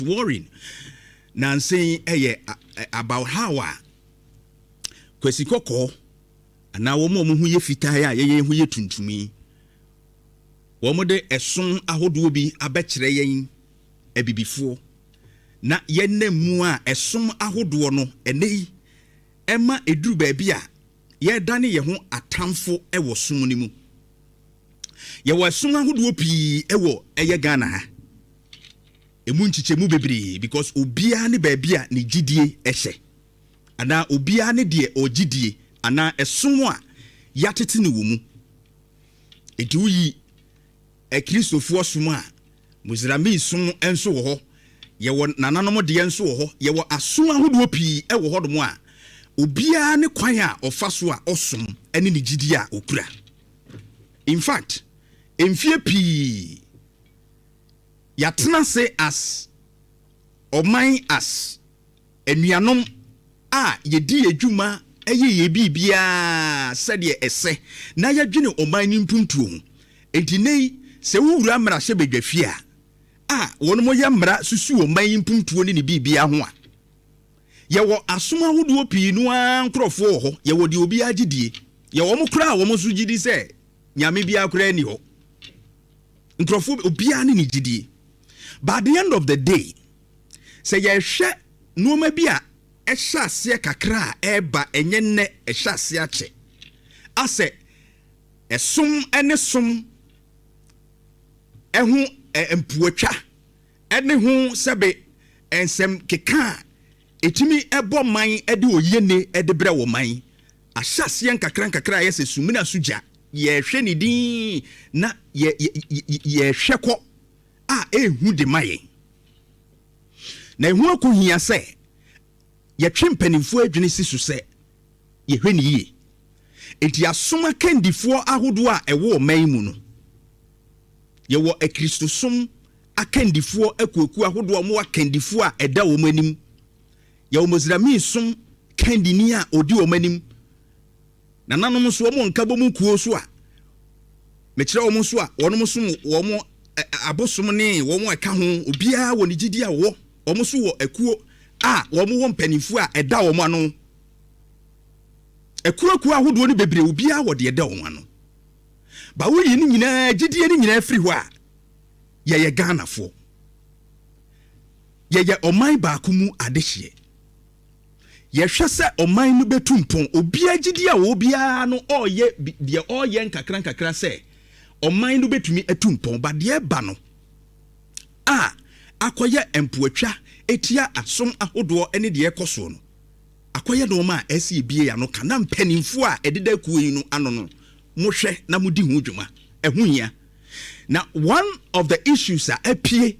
Warren nansa yi yɛ about how a Kwasi Kɔkɔɔ anaa wɔn a wɔn ho yɛ fitaa a yɛyɛ ho yɛ tuntum yi, wɔde ɛso ahodoɔ bi abɛkyerɛ yɛn abibifoɔ na yɛnam mu a ɛsom ahodoɔ no ɛnɛ yi ɛma ɛduru baabi a yɛdane yɛn ho atamfo wɔ som no mu. Yɛwɔ ɛsom ahodoɔ pii wɔ ɛyɛ Ghana ha. Emu nkyekyɛmu bebree because obiara ne baabi a ne gyidie hyɛ anaa obiara ne deɛ ɔgye die anaa ɛsom a yɛatete no wɔ mu. Enti woyi Akristofoɔ som a, Muzrami som nso wɔ hɔ, yɛwɔ nananom deɛ nso wɔ hɔ, yɛwɔ asom ahodoɔ pii wɔ hɔnom a obiara ne kwan a ɔfa so a ɔsom ne ne gyidie a ɔkura. In fact, mfeɛ pii, Yɛatena ase as ɔman as anuanom a yɛdi yɛn dwuma yɛ yɛn biribiara sɛdeɛ ɛsɛ na yɛdwene ɔman no mpuntuo ho. Enti nnɛ yi sɛ wo wura mmarahyɛ badwa fie a a wɔn mo yɛ mmara susu ɔman yi mpuntuo ne ne biribiara ho a. Yɛwɔ asom ahodoɔ pii no ara nkorɔfoɔ wɔ hɔ, yɛwɔ deɛ obiara gyedie, yɛwɔ wɔn koraa a wɔn nso gyedi sɛ Nyame biara koraa nni hɔ. Nkurɔfoɔ bi, obiara ne ne gyidie. But at the end of the day, sɛ yɛhwɛ nnoɔma bi a ɛhyɛ aseɛ kakra a ɛreba, ɛnyɛ nnɛ, ɛhyɛ aseɛ akyɛ. Asɛ ɛsom ne som ho mpoatwa ne ho sɛbe nsɛm keka a ɛtumi bɔ man de oyienie de brɛ wɔ man Ahyɛaseɛ nkakrankakra ayɛ sɛ sumina so gya, yɛrehwɛ no dinn na yɛ, yɛ, yɛ, yɛrehwɛ kɔ a ɛrehu de ma yɛn. Na ɛho akohia sɛ yɛtwe mpanimfoɔ adwene si so sɛ yɛhwɛ no yie. Enti asom akandifoɔ ahodoɔ a ɛwɔ ɔman yi mu no, yɛwɔ Akristosom akandifoɔ akuokuo ahodoɔ a wɔwɔ akandifoɔ a ɛda wɔn anim Yɛwɔ Mizraimi som kandini a odi wɔn anim. Nananom nso, wɔn wɔ nkabom nkurow so a mekyerɛ wɔn nso a wɔnom som wɔn abosom ne wɔn a ɛka ho. Obiara wɔ ne gyidi a ɔwɔ. Wɔn nso wɔ akuo a wɔn wɔ mpaninfoɔ a ɛda wɔn ano. Akuo akuo ahodoɔ no bebree, obiara wɔ deɛ ɛda wɔn ano. Ba woyi ne nyinaa, gyidie no nyinaa firi hɔ a, yɛyɛ Ghanafoɔ. Yɛyɛ ɔman baako mu adehyeɛ. Yɛhwɛ sɛ ɔman no bɛtu mpɔn. Obiara gyidie a ɔwɔ biara no, ɔreyɛ deɛ ɔreyɛ nkakrankakra sɛ ɔman no bɛtumi atu mpɔn. But deɛ ɛba no a akɔyɛ mpoatwa tia asom ahodoɔ ne deɛ ɛrekɔ soɔ no, akɔyɛ nnoɔma a ɛsɛ yɛbue yɛn ano ka. Na mpanimfoɔ a ɛdeda akuo yi no ano no, mohwɛ na modi ho dwuma. Ɛho hia. Na one of the issues a apue,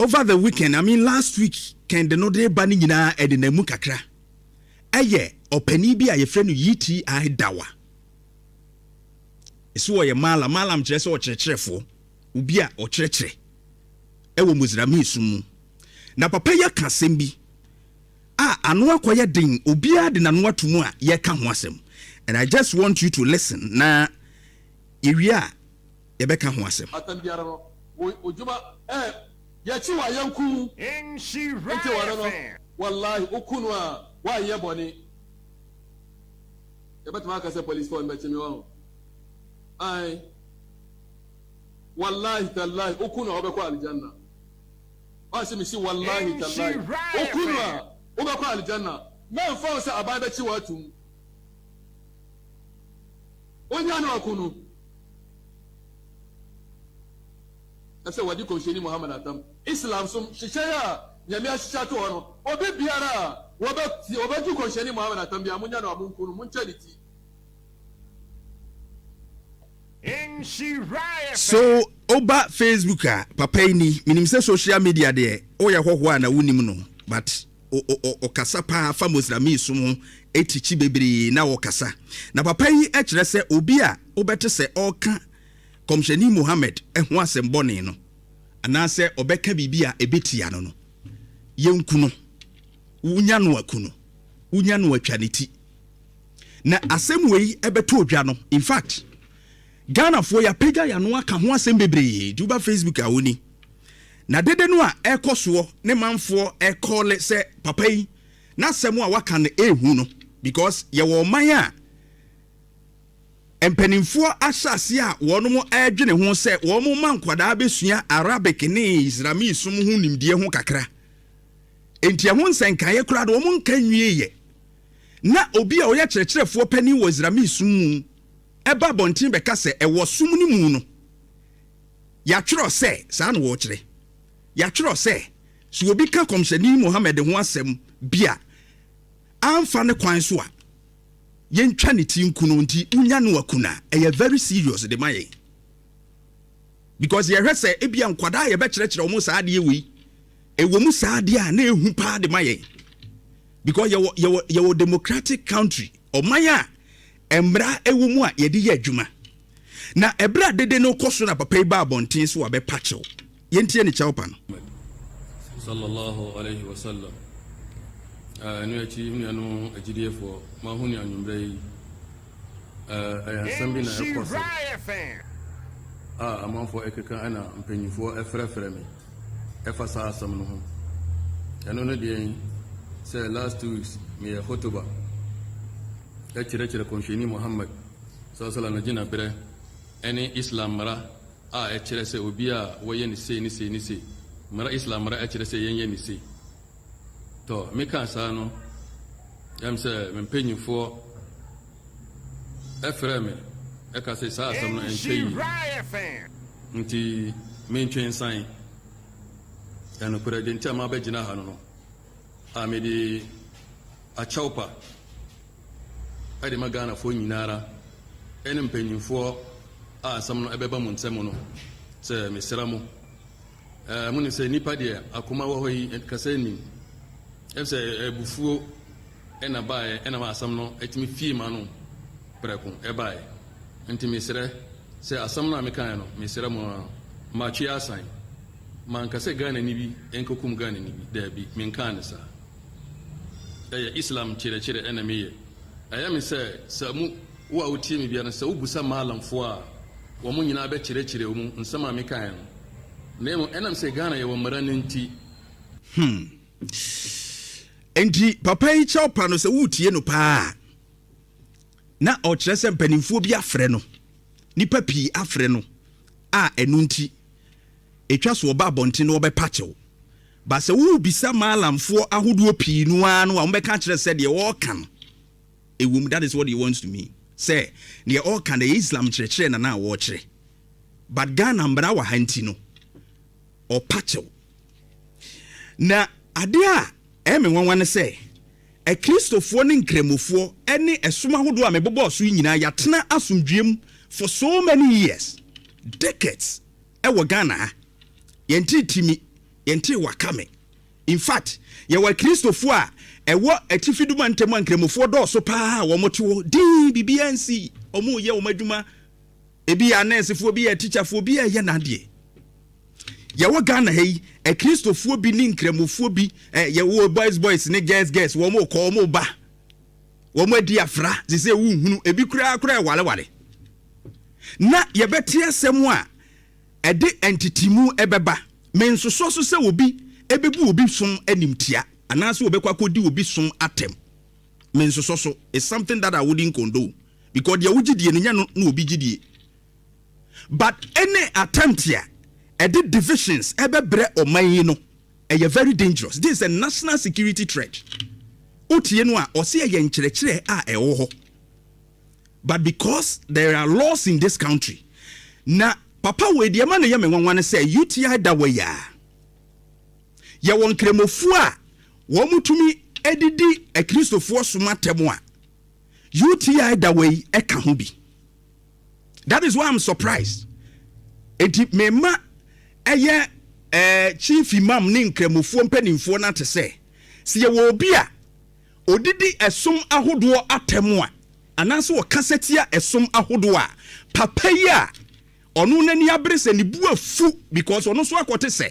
over the weekend, I mean last week kɛn de no de reba no nyinaa ɛdenam mu kakra. Ɛyɛ ɔpanin bi a yɛfrɛ no UTI Dawa. Ɛso ɔyɛ Malam. Malam kyerɛ sɛ ɔkyerɛkyerɛfoɔ, obi a ɔkyerɛkyerɛ ɛwɔ Mozrami som mu. Na papa yi aka asɛm bi a ano akɔyɛ den, obiara de n'ano ato mu a yɛka ho asɛm. And I just want you to listen na yɛwie a yɛbɛka ho asɛm. Atɛm biara no, wo odwuma ɛɛ yɛkyi wo a yɛnku wo. Enti ware no, wallahi wo ku no a wanyɛ bɔne. Yɛbɛtumi aka sɛ police foɔ no bɛkye me wahu. Ae. Wallahi tallahi wo ku no a wobɛkɔ Aljanna. Wase me si wallahi tallahi wo ku no a wobɛkɔ Aljanna. Mɛnfa wo sɛ aban bɛkye wo atum. Onya no ako no, ɛsɛ wɔde Kɔmhyɛni Muhammad atam. Islam som nhyehyɛe a Nyame ahyehyɛ ato hɔ no, obi biara a wɔbɛ wɔbɛto Kɔmhyɛni Muhammad atam biara, monya no a monku no, monkyɛ ne ti. So woba Facebook a, papa yi ni. Menim sɛ social media deɛ, woyɛ hɔhoɔ a na wonim no but. ɔ ɔ ɔ ɔkasa paa fa Moslamii som ho tikyi bebree na ɔkasa. Na papa yi kyerɛ sɛ obi a wobɛte sɛ ɔreka Kɔmhyɛni Muhammad ho asɛm bɔne no anaasɛ ɔbɛka biribi a ɛbɛtia no no, yɛnku no. Wonya no a, ku no. Wonya no a, twa ne ti. Na asɛm wei bɛtɔ dwa no, in fact, Ghanafoɔ yɛapagya yɛn ano aka ho asɛm bebree. Nti woba Facebook a, woni. Na dede no a ɛrekɔ soɔ ne manfoɔ rekɔɔle sɛ papa yi n'asɛm a waka no ɛrehu no because yɛwɔ ɔman a mpanimfoɔ ahyɛ aseɛ a wɔn ɛredwene ho sɛ wɔn ma nkwadaa bɛsua Arabic ne Islamic som ho nimdeɛ ho kakra enti ɛho nsɛnkaeɛ koraa no wɔn nka nwieeɛ na obi a ɔyɛ kyerɛkyerɛfoɔ panin wɔ Islamic som mu ɛba abɔnten bɛka sɛ ɛwɔ som no mu no Yɛatwerɛ sɛ, saa na wɔkyerɛ. Yɛatwerɛ sɛ, sɛ obi ka Kɔmhyɛni Muhammad ho asɛm bi a, amfa ne kwan so a, yɛntwa ne ti nku no, nti wonya no aku no a, ɛyɛ very serious de ma yɛn. Because yɛhwɛ sɛ ebia nkwadaa a yɛbɛkyerɛkyerɛ wɔn saa adeɛ wei, ɛwɔ mu saa adeɛ a na ɛhu paa de ma yɛn. Because yɛwɔ, yɛwɔ, yɛwɔ democratic country, ɔman a Mmara wɔ mu a yɛde yɛ adwuma. Na bere a dede no rekɔ so na papa yi baa abɔnten sɛ wabɛpa kyɛw. Yɛntie ne kyɛwpa no. Muhammad, Sala Allahu Alaihi Wasallam, a ɛno akyi me nuanom agyidiefɔɔ, moaho ne anwummerɛ yi, ɛyɛ nsɛm bi na ɛrekɔ so a amanfoɔ ɛkeka ɛna mpanyinfoɔ ɛfrɛfrɛ me. ɛfa saa asɛm no ho. Ɛno ne deɛn? Sɛ last two weeks meyɛ hotoba ɛkyerɛkyerɛ kɔnhyɛni Muhammad salasala no gyina berɛ ɛne Islam mmara a ɛkyerɛ sɛ obi a wɔyɛ no sei ne sei ne sei. Mmara Islam mmara ɛkyerɛ sɛ yɛnyɛ no sei. Tɔ, mekaa saa no, na ɛm sɛ me mpanyimfoɔ frɛɛ me ka se saa asɛm no ɛntwa yi nti mentwe nsan. Na nokorɛ deɛ nti a mabɛgyina ha no no, a mede akyɛwpa de ma Ghanafoɔ nyina ara ne mpanyimfoɔ a asɛm no bɛba mo nsam no sɛ mesrɛ mo, Ɛɛ, monim sɛ nnipa deɛ akoma wɔ hɔ yi, kasa nnim. Efisɛ abufuo na baeɛ, ɛna ma asɛm no tumi fii m'ano prɛko baeɛ. Enti mesrɛ sɛ asɛm no a mekaeɛ no, mesrɛ mo ara, matwe asan. Manka sɛ Ghanani bi nkɔkum Ghanani bi, daabi, menkaa no saa. Ɛyɛ Islam nkyerɛkyerɛ na meyɛ. Ɛyɛ me sɛ, sɛ mo, wo a wotie me biara no, sɛ wobisa Maalamfoɔ a, wɔn nyinaa bɛkyerɛkyerɛ wo mu nsɛm a mekaeɛ no. Na mmom ɛnam sɛ Ghana yɛwɔ mmara no nti. Hmm. Enti papa yi kyɛw pa no sɛ woretie no paa a, na ɔkyerɛ sɛ mpanimfoɔ bi afrɛ no, nnipa pii afrɛ no a ɛno nti ɛtwa so ɔba abɔnten na wɔbɛpa kyɛw. Ba sɛ wobisa maalamfoɔ ahodoɔ pii no ara no a wɔbɛka kyerɛ sɛ deɛ ɔreka no ɛwom, that is what he wants to mean, sɛ deɛ ɔreka no ɛyɛ Islam kyerɛkyerɛ na na wɔrekyerɛ. but Ghana mbra wɔ ha ntsi no ɔpa kyɛw. Na ade a ɛyɛ me nwanwa ne sɛ Akristofoɔ ne Nkramofoɔ ne ɛsom ahodoɔ a mebobɔɔ so yi nyinaa yɛatena asomdwoeɛ mu for so many years, decades wɔ Ghana ha. Yɛntee Timi, yɛntee Wakame. In fact, yɛwɔ Akristofoɔ a ɛwɔ Atifi Duma ntam a Nkramofoɔ dɔɔso paa a wɔte hɔ dinn, biribiara nsi, wɔreyɛ wɔn adwuma, Ebi yɛ anɛɛsefoɔ, ebi yɛ tikyafoɔ, ebi yɛ n'adeɛ. Yɛwɔ Ghana ha yi, akristofoɔ bi ne nkramofoɔ bi, eh, yɛwɔ boys boys ne girls girls, wɔn mo kɔ, wɔn mo ba, wɔn adi afra, sise ewu nhunu, ebi koraa koraa ɛwareware. Na yɛbɛte asɛm a ɛde ntetimu ɛbɛba. Mensosɔ so sɛ obi ɛbɛbu obi som animtia anaasɛ ɔbɛkɔ akɔdi obi som atɛm. Mensosɔ so. It's something that I wouldn't condone. because deɛ wogye die no nyɛ no na obi gye die but any attempt a ɛde divisions ɛbɛbrɛ ɔman yi no ɛyɛ very dangerous this is a national security threat wotie no a ɔse ɛyɛ nkyerɛkyerɛ a ɛwɔ hɔ but because there are laws in this country na papa wei deɛ ma no yɛ me nwanwa no sɛ UTI da wɔ yɛ a yɛwɔ nkramofoɔ a wɔn tumi ɛdidi akristofoɔ soma tɛm a UTI da wei ɛka ho bi. That is why I'm surprised. Eti mema ɛyɛ eh, chief imam ne nkramofoɔ mpanimfoɔ no ate sɛ, sɛ yɛwɔ obi a ɔdidi ɛsom ahodoɔ atɛm a, anaasɛ ɔkasa tia ɛsom ahodoɔ a, papa yi a ɔno n'ani abere sɛ ne bu afu because ɔno nso akɔte sɛ.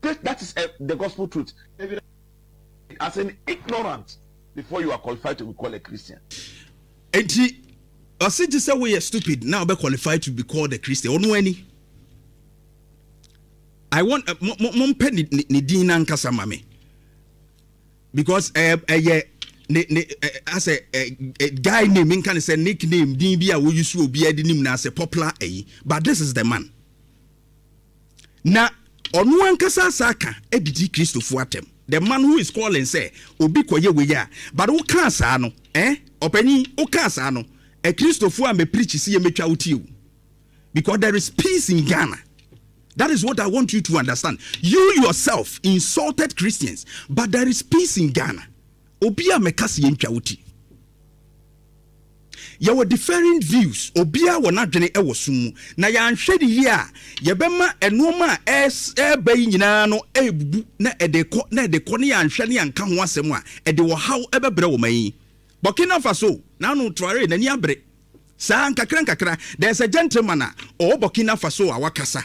that, that is a, the gospel truth. As an ignorant before you are qualified to be called a Christian. Eti, ɔsi ti sɛ woyɛ stupid now be qualified to be called a Christian. Ɔno ani. I want uh, mo mpɛ ne ne ne din nankasa ma me because ɛyɛ uh, ɛyɛ uh, ne ne asɛ ɛ guy name nka ne sɛ nickname din bi a woyi so obi ɛde nim na asɛ popular ɛyi but this is the man. Na ɔno ankasa asa aka adidi Kristofo atɛm. The man who is calling sɛ obi kɔyɛ wei a, but wokaa saa no eh, ɔpanyin, wokaa saa no eh, Kristofo a mɛpreachi siyɛ mɛtwa wo tiawu because there is peace in Ghana. That is what I want you to understand. You yourself insulted Christians, but there is peace in Ghana. Obi a mɛka sɛ yɛntwa wo ti. Yɛwɔ different views, obiara wɔ n'adwene wɔ som mu, na yɛanhwɛ no yie a, yɛbɛma nnoɔma a ɛreba yi nyinaa no ɛrebubu na ɛde rekɔ na ɛde rekɔ na yɛanhwɛ na yɛanka ho asɛm a, ɛde ɔhaw bɛbrɛ ɔman yi. Burkina Faso, Nano Traore n'ani abere saa, nkakrankakra, there's a gentleman a ɔwɔ Burkina Faso a wakasa.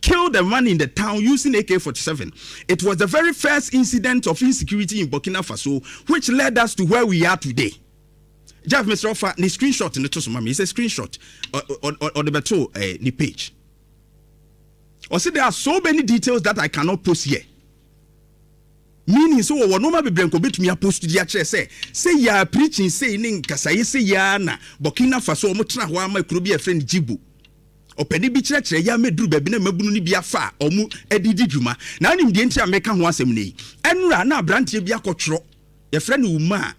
killed a man in the town using AK 47. It was the very first incident of insecurity in Burkina Faso which led us to where we are today. Jeff Mr. Ofa, ni screenshot ni to so mami. It's a screenshot. Or the beto eh, ni page. Or say there are so many details that I cannot post here. Meaning so wɔ nneɛma bebree nko betumi apost di akyerɛ sɛ sɛ yɛa preaching sei ne nkasaeɛ sɛ yɛa na Burkina Faso wɔn tena hɔ ama kuro bi a ɛfrɛ no Djibo. Ɔpanin bi kyerɛkyerɛɛ yɛn ma eduruu baabi na mmabunu no bi afa wɔn de redi dwuma. Ná onim deɛ nti a mereka ho asɛm nnɛ yi. Ɛnnora na aberanteɛ bi akɔtwerɛ, yɛfrɛ no Umar,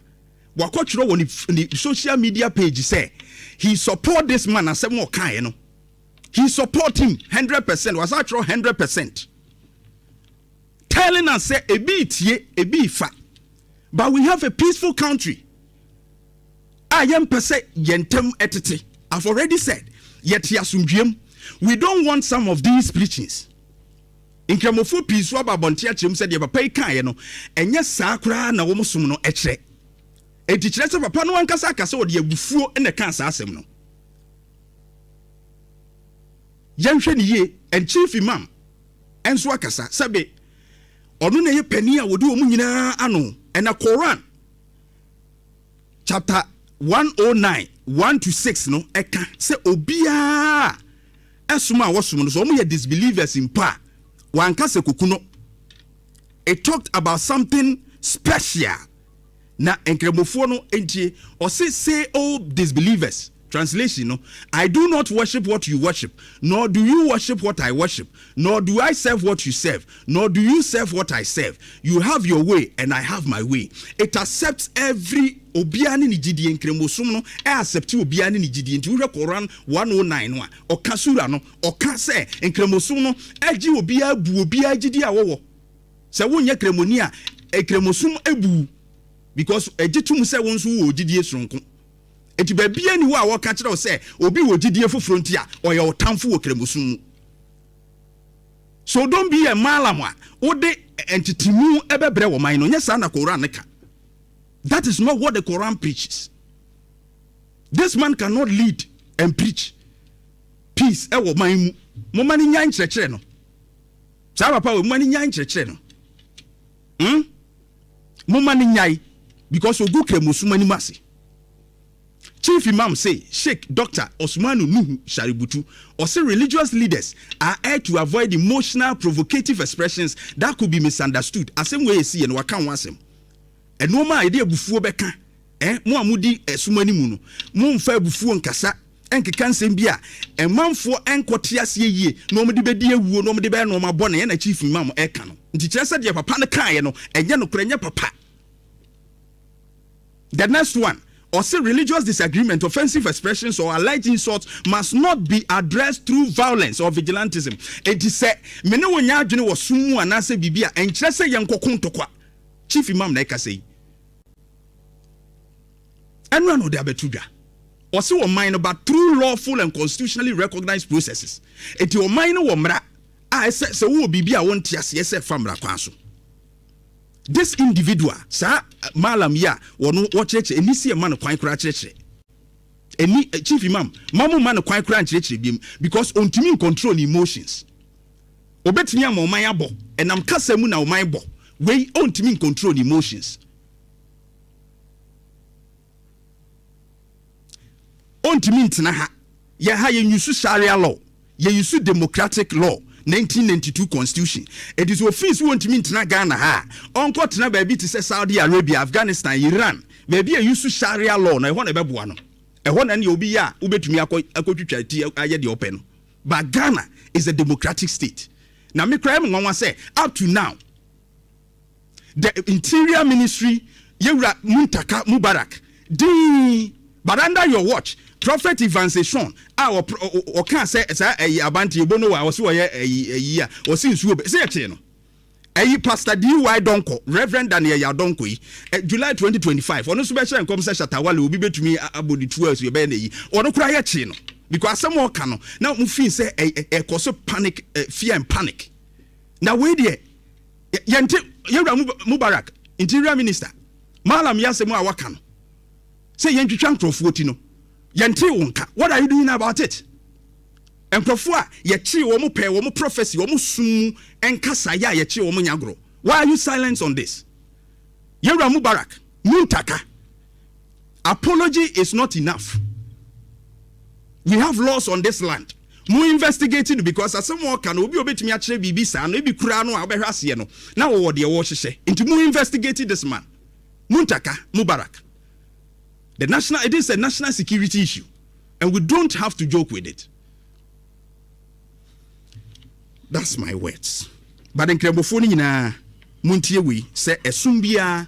wakɔtwerɛ wɔ ne ne social media page sɛ, He support this man, asɛm a ɔkaeɛ no, he support him hundred percent, wasan atwerɛ hundred percent, telling us sɛ ebi retie, ebi refa, but we have a peaceful country. a yɛmpɛ sɛ yɛn ntam tete. I've already said yɛte asomdwoeɛ mu. We don't want some of these preachings. Nkramofoɔ pii nso aba abɔnten akyerɛ mu sɛ deɛ papa yi kaeɛ no, ɛnyɛ saa koraa na wɔn som no kyerɛ. Enti kyerɛ sɛ papa no ankasa aka sɛ ɔde abufuo na ɛkaa saa asɛm no. Yɛnhwɛ no yie, and Chief Imam nso akasa sɛbe ɔno na ɛyɛ panin a wɔde wɔn nyinaa ano, ɛna Koran chapter 109 1 to 6 no ɛka sɛ obiara ɛsom a wɔsom no so wɔn yɛ disbelievers mpo a wanka sɛ koku no it talked about something special na nkramofoɔ no ntie ɔse say all disbelievers Translation no, I do not worship what you worship, nor do you worship what I worship, nor do I serve what you serve, nor do you serve what I serve. You have your way and I have my way. It accepts every obiara ne ne gyidie. Nkramosom no accepte obiara ne ne gyidie. Nti wohwɛ Quran 109 no a, ɔka sura no, ɔka sɛ nkramosom no agye obiara bu obiara gyidie a wɔwɔ. Sɛ wonyɛ kramoni a, nkramosom abu wo because ɛgye tom sɛ wo nso wowɔ gyidie soronko. Enti baabiara nni hɔ a wɔka kyerɛ wo sɛ obi wɔ gyidie foforɔ nti a ɔyɛ wo tamfo wɔ Kramosom mu. So don't be a Malam a wode ntetemu bɛbrɛ wɔ man no, nyɛ saa na Koran no ka. That is not what the Koran preaches. This man cannot lead and preach peace ɛwɔ man mu. Momma no nyae nkyerɛkyerɛ no. Saa papa wei, momma no nyae nkyerɛkyerɛ no. Hmm momma no nyae because ogu kramosom anim ase Chief Imam se Sheik Doctor Osmanu Nuhu Shaributu ɔse religious leaders are urged to avoid emotional provocative expressions that could be misunderstood Asem wei a ɛsiiɛ no waka ho asem Nnoɔma a yɛde abufuo bɛka Ɛ, mo a modi ɛsom ani mu no, momfa abufuo nkasa, nkeka nsɛm bi a ɛmanfoɔ nkɔ te aseɛ yie na wɔde bɛdi awuo na wɔde bɛyɛ nnoɔma bɔne ɛna Chief Imam ɛka no nti kyerɛ sɛ deɛ papa no kaeɛ no ɛnyɛ nokorɛ ɛnyɛ papa The next one ɔse religious disagreement, offensive expressions or alleged insults must not be addressed through violence or vigilantism enti sɛ me ne wo nyɛ adwene wɔ som mu anaasɛ biribi a ɛnkyerɛ sɛ yɛnkɔko ntɔkwa Chief Imam na ɛkasa yi. Ɛno ara na ɔde abɛto dwa. Ɔse ɔman no ba through lawful and constitutionally recognised processes. Enti ɔman no wɔ mmara a ɛsɛ sɛ wowɔ biribi a wonte aseɛ sɛ fa mmara kwan so. This individual, saa Mallam yi a wɔno wɔkyerɛkyerɛ, ɛnni sɛ yɛma no kwan koraa kyerɛkyerɛ. Ɛnni, Chief Imam, mma momma no kwan koraa nkyerɛkyerɛ biom because ɔntumi ncontrol ne emotions. Ɔbɛtumi ama ɔman abɔ, ɛnam kasa mu na ɔman bɔ. Wei, ɔntumi ncontrol ne emotions. Ontumi ntena ha. Yɛ ha yɛ use Sharia law, yɛ use democratic law, 1992 constitution. Ɛti sɛ ɔfii so ɔntumi ntena Ghana ha a, ɔnkɔ tena baabi te sɛ Saudi Arabia, Afghanistan, Iran, baabi a use Sharia law na ɛhɔ na ɛbɛboa no. Ɛhɔ na ɛneɛ obi yɛ a wobɛtumi akɔ akɔtwitwa ti ayɛ deɛ ɔpɛ no. But Ghana is a democratic state. Na me koraa ɛyɛ me nwanwa sɛ up to now, the interior ministry yɛ wura Muntaka Mubarak dinn but under your watch prophet Evans Esuon a ɔkaa sɛ saa ayi abante obo no wa ɔsi ɔyɛ ayi ayi a ɔsi nsuo bɛ sɛ ɛkyee no ɛyi pastor D.Y. Donkor Reverend Daniel Yah Donkor yi eh, July 2025 ɔno nso bɛhyɛ nkɔm sɛ Shatawale obi bɛtumi abɔ ne tuo asu ɛbɛyɛ n'ayi ɔno koraa yɛ kyee no because asɛm a ɔka no na mo fii sɛ ɛkɔ so panic eh, fear and panic na wei deɛ Yɛnte Yɛwura Mubarak, Interior Minister, Mallam yi asɛm a waka no sɛ yɛntwitwa nkurɔfoɔ ti no, yɛntee wo nka. What are you doing about it? Nkurɔfoɔ a yɛkyee wɔn pɛɛ wɔn prophecy, wɔn som mu nkasaeɛ a yɛkyee wɔn nyɛ agorɔ. Why are you silent on this? Yɛwura Mubarak, Muntaka. Apology is not enough we have laws on this land mo investigate no because asɛm a ɔka no obi a obetumi akyerɛ biribi saa no ebi kura no a ɔbɛhwɛ aseɛ no na wɔwɔ deɛ wɔrehyehyɛ nti mo investigate this man Muntaka Mubarak the national it is a national security issue and we don't have to joke with it that's my words but nkramofoɔ no nyinaa muntie wei sɛ ɛsom biara